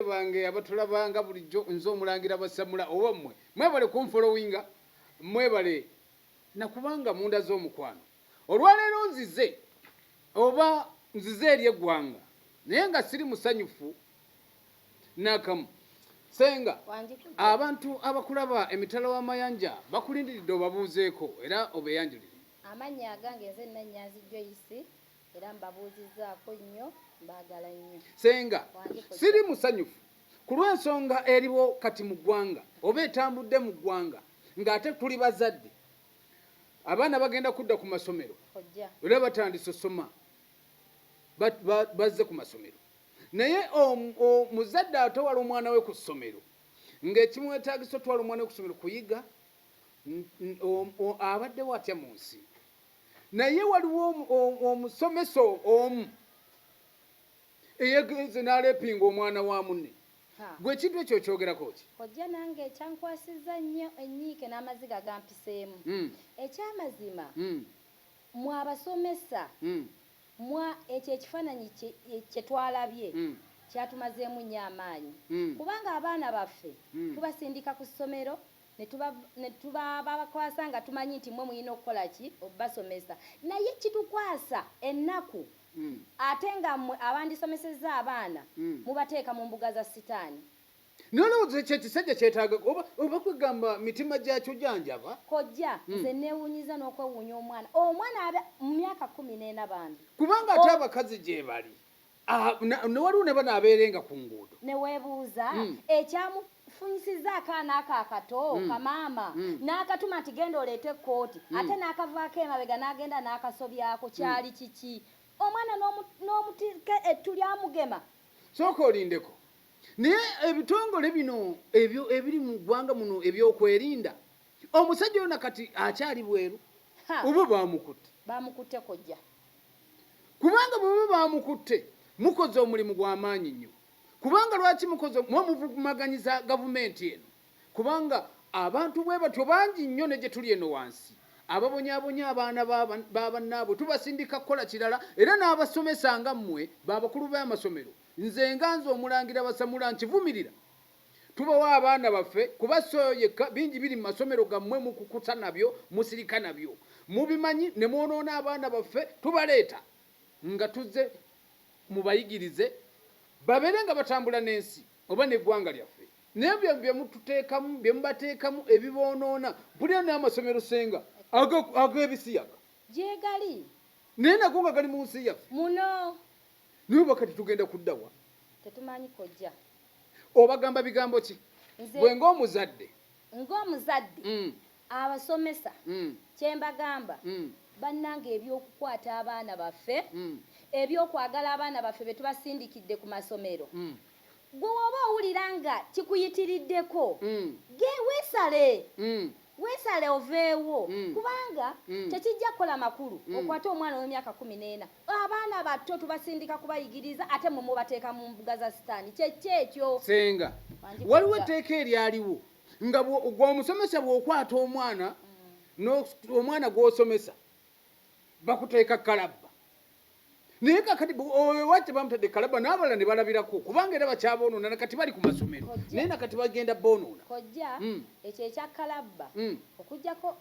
Balabe bange abatulabanga bulijjo nze omulangira basamula oba mmwe mwebale kunfolowinga mwebale nakubanga munda z'omukwano olwaleero nzize oba nzize eri eggwanga naye nga siri musanyufu nakamu senga abantu abakulaba emitala w'amayanja bakulindiridde obabuuzeeko era obeyanjulire amannya agange nze nanyanzi joyisi era mbabuuzizzaako nnyo mbaagala nnyo senga siri musanyufu ku lw'ensonga eriwo kati mu ggwanga oba etambudde mu ggwanga ng'ate tuli bazadde abaana bagenda kudda ku masomero era batandise osoma bazze ku masomero naye omuzadde atawala omwana we ku ssomero ng'ekimwetagisa otwala omwana we ku ssomero kuyiga abaddewo atya mu nsi naye waliwo omusomesa omu eyegenze nalepinga omwana wa munne gwe ekintu ekyo okyogerako ki kojja nange ekyankwasiza nnyo enyiike n'amaziga gampiseemu hmm. ekyamazima hmm. mwabasomesa hmm. mwa ekyo ekifaananyi kyetwalabye kyatumazeemu nnyo amaanyi kubanga abaana baffe tubasindika ku ssomero netubabakwasa nga tumanyi nti mwe muyina okukola ki obasomesa naye kitukwasa ennaku mm. ate nga mwe abandisomeseza abaana mm. mubateeka mu mbuga za sitaani nolowooza ekyo ekisajja kyetaaga oba oba kwegamba mitima gyakyo janjaba kojja mm. nze newunyiza n'okwewuunya omwana omwana mu myaka kumi n'ena bambi kubanga ate abakazi gyebali Ah, na- ne waliwo ne bano abeerenga ku nguudo ne weebuuza Mm. ekyamufunyisizza akaana ako akato Mm. kamaama Mm. n'akatuma nti genda oleete ekkooti Mm. ate n'akavaako emabega n'agenda n'akasobyako kyali kiki omwana n'omu- n'omutika ettu lyamugema sooka olindeko naye ebitongole bino ebyo ebiri mu ggwanga muno ebyokwerinda omusajja yona kati akyali bweru Ha, oba bamukutte bamukutte kojja kubanga bwe baba baamukutte mukoze omulimu gwa maanyi nnyo kubanga lwaki mukoze muba muvugumaganyiza gavumenti eno kubanga abantu bwe batyo bangi nnyo ne gye tuli eno wansi ababonyabonya abaana ba bannaabwe tubasindika kukola kirala era n'abasomesa nga mmwe ba bakulu b'amasomero nze nga nze omulangira basamula nkivumirira Tubawa abaana baffe kuba si oyo yekka, bingi biri mu masomero gammwe mukukuta nabyo, musirika nabyo. Mubimanyi ne mwonoona abaana baffe, tubaleeta nga tuzze mubayigirize babeere nga batambula n'ensi oba n'eggwanga lyaffe. Naye ebyo bye mututeekamu, bye mubateekamu ebiboonoona. Mpulira n'amasomero Ssenga ag'ebisiyaga. Gyegali. Naye nago nga gali mu nsi yaffe. Muno. Naye oba kati tugenda kudda wa? Tetumanyi kojja. Obagamba bigambo ki? Gwe ng'omuzadde. Ng'omuzadde. Mm. Abasomesa. Mm. Kye mbagamba. Mm. Bannanga eby'okukwata abaana baffe. Mm. Eby'okwagala abaana baffe be tubasindikidde ku masomero. Mm. Ggwe w'oba owulira nga kikuyitiriddeko, ge, weesale. Weesale oveewo, kubanga tekijja kukola makulu okwate omwana ow'emyaka kkumi n'ena. Abaana bato tubasindika kubayigiriza ate mmwe mubateeka mu mbuga za Sitaani. Kye ki ekyo? Ssenga, waliwo etteeka eryaliwo nga bwo, ggwe omusomesa bw'okwata omwana n'o, omwana gw'osomesa bakuteeka kalabba. naye kakati owewa tebamutadde kalaba n'abalala ne balabirako kubanga era bakyaboonona nakati bali ku masomero naye nakati bagenda boonona kojja hmm. ekyo ekya kalabba hmm. okujjako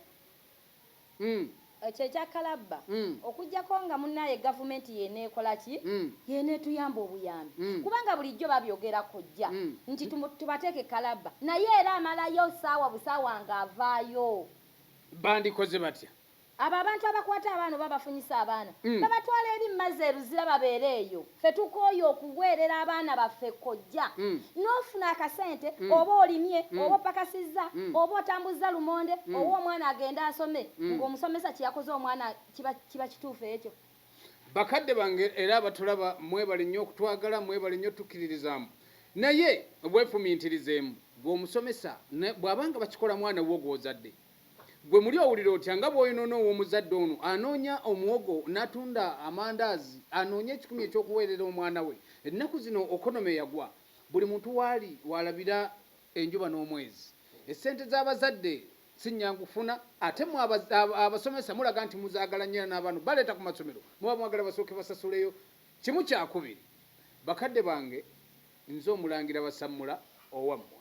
hmm. ekyo ekya kalabba okujjako nga munaye gavumenti yeneekola ki yeneetuyamba obuyambi kubanga bulijjo babyogera kojja nti tubateeke kalabba naye era amalayo saawa busaawa nga avaayo bandikoze batya abo abantu abakwata abaana oba bafunyisa abaana mm. babatwala eri mumazzi eruzira babeere eyo fe tukooye okuweerera abaana baffe kojja mm. n'ofuna akasente mm. oba olimye mm. oba opakasizza mm. oba otambuzza lumonde mm. owa omwana agenda asome mm. ng'omusomesa kyeyakoze omwana kiba, kiba kituufu ekyo bakadde bange era abatulaba mwebale nnyo okutwagala mwebale nnyo tukiririzamu naye obwefumintirizeemu gweomusomesa bw'abanga bakikola mwana wo gw'ozadde Ggwe muli owulira otya nga bw'oyonoona ow'omuzadde ono anoonya omuwogo n'atunda amandaazi anoonye ekikumi eky'okuweerera omwana we? Ennaku zino okonome yagwa, buli muntu waali w'alabira enjuba n'omwezi. Essente z'abazadde si nnyangu kufuna ate mmwe abasomesa mulaga nti muzaagala nnyo era n'abaana baleeta ku masomero muba mwagala basooke basasuleyo kimu kyakubiri. Bakadde bange nze Omulangira Basammula owammwe.